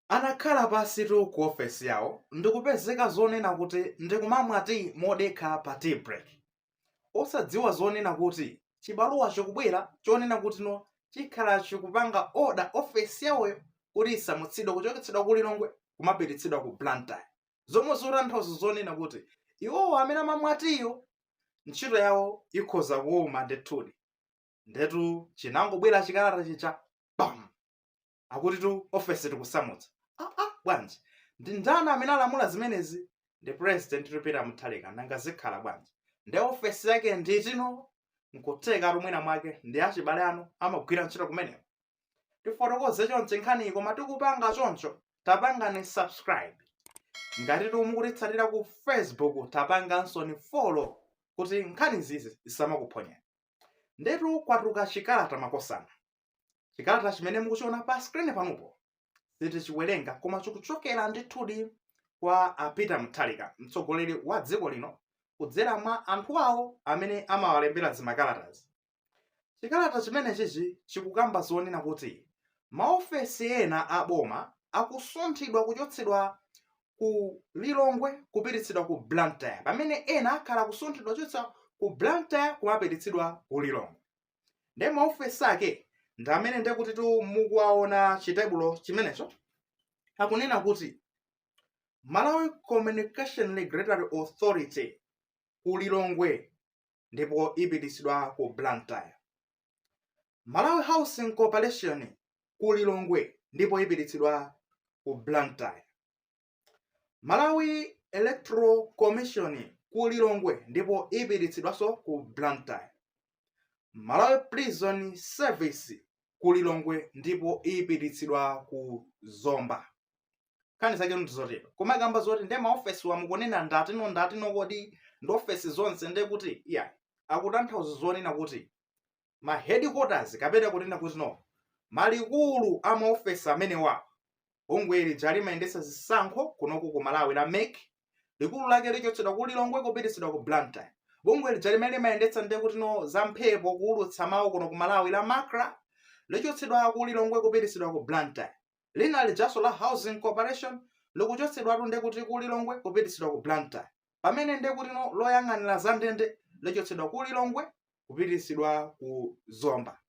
Anakhala pansitu ku ofesi yawo ndikupezeka zonena kuti ndikumamwa tiyi modekha pa tea break. Osadziwa zonena kuti chibaluwa chikubwera chonena kuti no chikhala chikupanga order ofesi yawoyo kuti isamutsidwe kuchoketsedwa ku Lilongwe kumapititsidwa ku Blantyre. Zomwe zikutanthauza zonena kuti iwowo amene amamwa tiyiwo ntchito yawo ikhoza kuwuma ndithudi. Ndetu chinangobwera chikalata chija bam! akutitu office tikusamutsa aa bwanji ndi ndani amene alamula zimenezi ndi president Peter Mutharika nanga zikhala bwanji ndi ofesi yake ndi iti no nkutheka mwina mwake ndi achibale anu amagwira ntchito kumeneko tifotokoze choncho nkhaniyi koma tikupanga choncho tapangani subscribe ngati simukutitsatira ku facebook tapangansoni follow kuti nkhani zizi zisamakuphonyeni ndetu kwatuluka chikalata makosana chikalata chimene mukuchiona pa skrini panopo sitichiwerenga koma chikuchokera ndithudi kwa a peter mutharika mtsogoleri wa dziko lino kudzera mwa anthu awo amene amawalembera zimakalatazi chikalata chimenechichi chikukamba zonena kuti maofesi ena a boma akusunthidwa kuchotsedwa ku lilongwe kupititsidwa ku blantyre pamene ena akhala akusunthidwa kuchotsa ku blantyre kumapititsidwa ku lilongwe nde maofesi ake ndi amene nde kutitu mukuwaona chitebulo chimenecho akunena kuti malawi communications regulatory authority ku lilongwe ndipo ipititsidwa ku blantyre malawi housing corporation ku lilongwe ndipo ipititsidwa ku blantyre malawi electoral commission ku lilongwe ndipo ipititsidwanso ku blantyre malawi prison service ku lilongwe ndipo ipititsidwa ku zomba nkhani zake ndizotero koma ikamba zoti ndi maofesiwa mukunena ndatino ndatino kodi ndi ofesi zonse nde kuti iyayi akutanthauza zonena kuti ma headquarters kapena kunena kuti no malikulu a maofesi amenewawa bungwe lija limayendetsa zisankho kunoku ku malawi la mec likulu lake lichotsedwa ku lilongwe kupititsidwa ku blantyre bungwe lija limene limayendetsa nde kuti no za mphepo kuulutsa mawu kuno ku malawi la macra lichotsedwa ku lilongwe kupititsidwa ku blantyre lina lijanso la housing corporation likuchotsedwatu nde kuti ku lilongwe kupititsidwa ku blantyre pamene nde kutino loyang'anira za ndende lachotsedwa ku lilongwe kupitisidwa ku zomba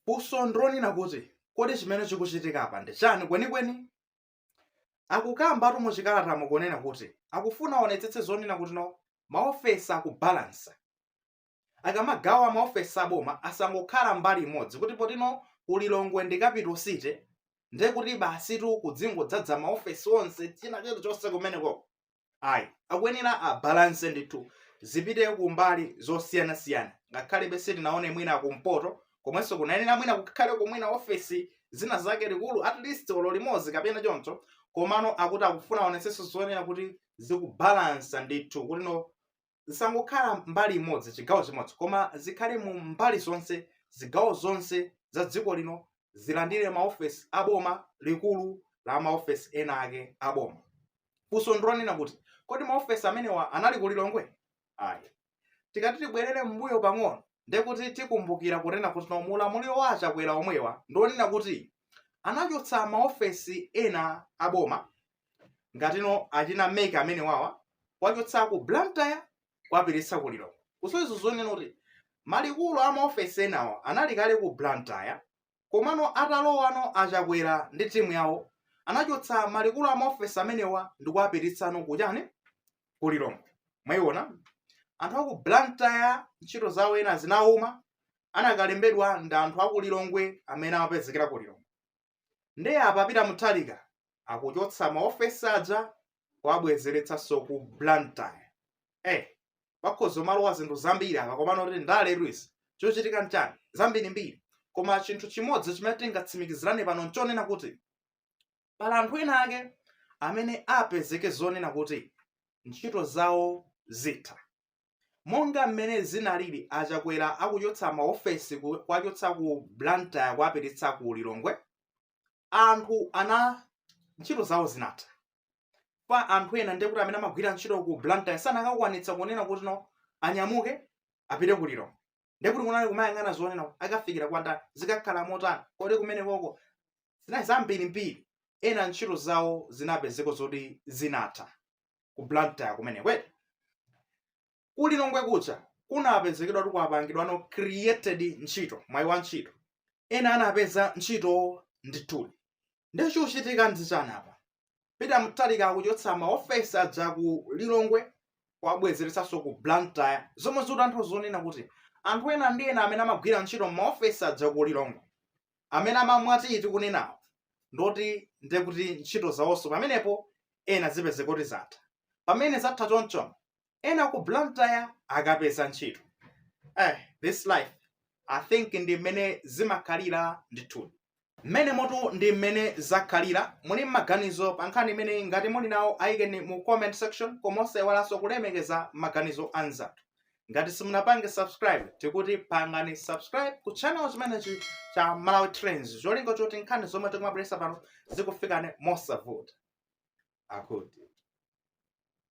funso ndi lonena kuti kodi chimene chikuchitikapa ndi chani kwenikweni akukambatu muchikalatamo kunena kuti akufuna aonetsetse zonena kuti no maofesi akubalansa akamagawa maofesi aboma asangokhala mbali imodzi kuti poti no ku lilongwe ndi capital city nde kuti basitu kudzingodzadza maofesi onse china chilichonse kumeneko ayi akuyenera abalanse ndithu zipite kumbali zosiyanasiyana ngakhalebe sitinaone mwina kumpoto komwenso kunayenera mwina kukhale ku mwina ofesi zina zake likulu at least olo limodzi kapena choncho komano akuti akufuna aonetsetse zonena kuti zikubalansa ndithu kuti no zisangokhala mbali imodzi chigawo chimodzi koma zikhale mu mbali zonse zigawo zonse za dziko lino zilandire maofesi aboma likulu la maofesi ena ake aboma funso ndilonena kuti kodi maofesi amenewa anali ku lilongwe ayi tikati tibwerere m'mbuyo pang'ono ndekuti tikumbukira kunena kuti no mu ulamuliro wa achakwera omwewa ndi onena kuti anachotsa maofesi ena aboma ngati no achina MEC amenewawa kuwachotsa ku blantyre kuwapititsa ku lilongwe kusonyeza zonena kuti malikulu a maofesi enawa anali kale ku blantyre komano atalowano achakwera ndi timu yawo anachotsa malikulu a maofesi amenewa ndi kuwapititsano kuchani ku lilongwe mwayiona anthu aku blantyre ntchito zawo ena zinauma anakalembedwano ndi anthu aku lilongwe amene amapezekera ku lilongwe nde apa peter mutharika akuchotsa maofesi aja kuwabwezeretsanso ku blantyre eh pakhoza kumalowa zinthu zambiri apa komano kuti ndale luis chochitika nchani zambirimbiri koma chinthu chimodzi chimene tingatsimikizirane pano nchonena kuti pali anthu ena ake amene apezeke zonena kuti ntchito zawo zitha Monga mmene zinalili a Chakwera akuchotsa ma ofesi kuwachotsa ku Blantyre kuwapititsa ku Lilongwe, anthu ena ntchito zawo zinatha. Poti anthu ena ndekuti amene amagwira ntchito ku Blantyre sakanakwanitsa kunena kuti no anyamuke apite ku Lilongwe. Ndekuti kunali kumayang'ana zonena kuti akafikira kwa ndani, zikakhala motani, kodi kumenekoko zinali zambirimbiri. Ena ntchito zawo zinapezeka zoti zinatha. ku blantyre kumeneko ku lilongwe kuja kunapezekera kuti kwapangidwa no created ntchito mwayi wa ntchito ena anapeza ntchito ndithudi ndiye chochitika ndichani apa peter mutharika akuchotsa maofesi aja ku lilongwe kuwabwezeretsanso ku blantyre zomwe zikutanthauza zonena kuti anthu ena ndi ena amene amagwira ntchito m'maofesi aja ku lilongwe amene amamwa tiyi tikunenawo ndi oti ndiye kuti ntchito zawonso pamenepo ena azipeza kuti zatha pamene zatha chonchono ena ku blantyre akapeza ntchito eh, this life i think ndi mmene zimakhalira ndithudi mmene motu ndi mmene zakhalira muli ndi maganizo pa nkhani imeneyi ngati muli nawo ayikeni mu comment section koma osaiwalanso kulemekeza maganizo anzathu ngati simunapange subscribe tikuti pangani subscribe ku channel chimenechi cha malawi trends cholinga choti nkhani zomwe tikumabweretsa pano zikufikeni mosavuta akuti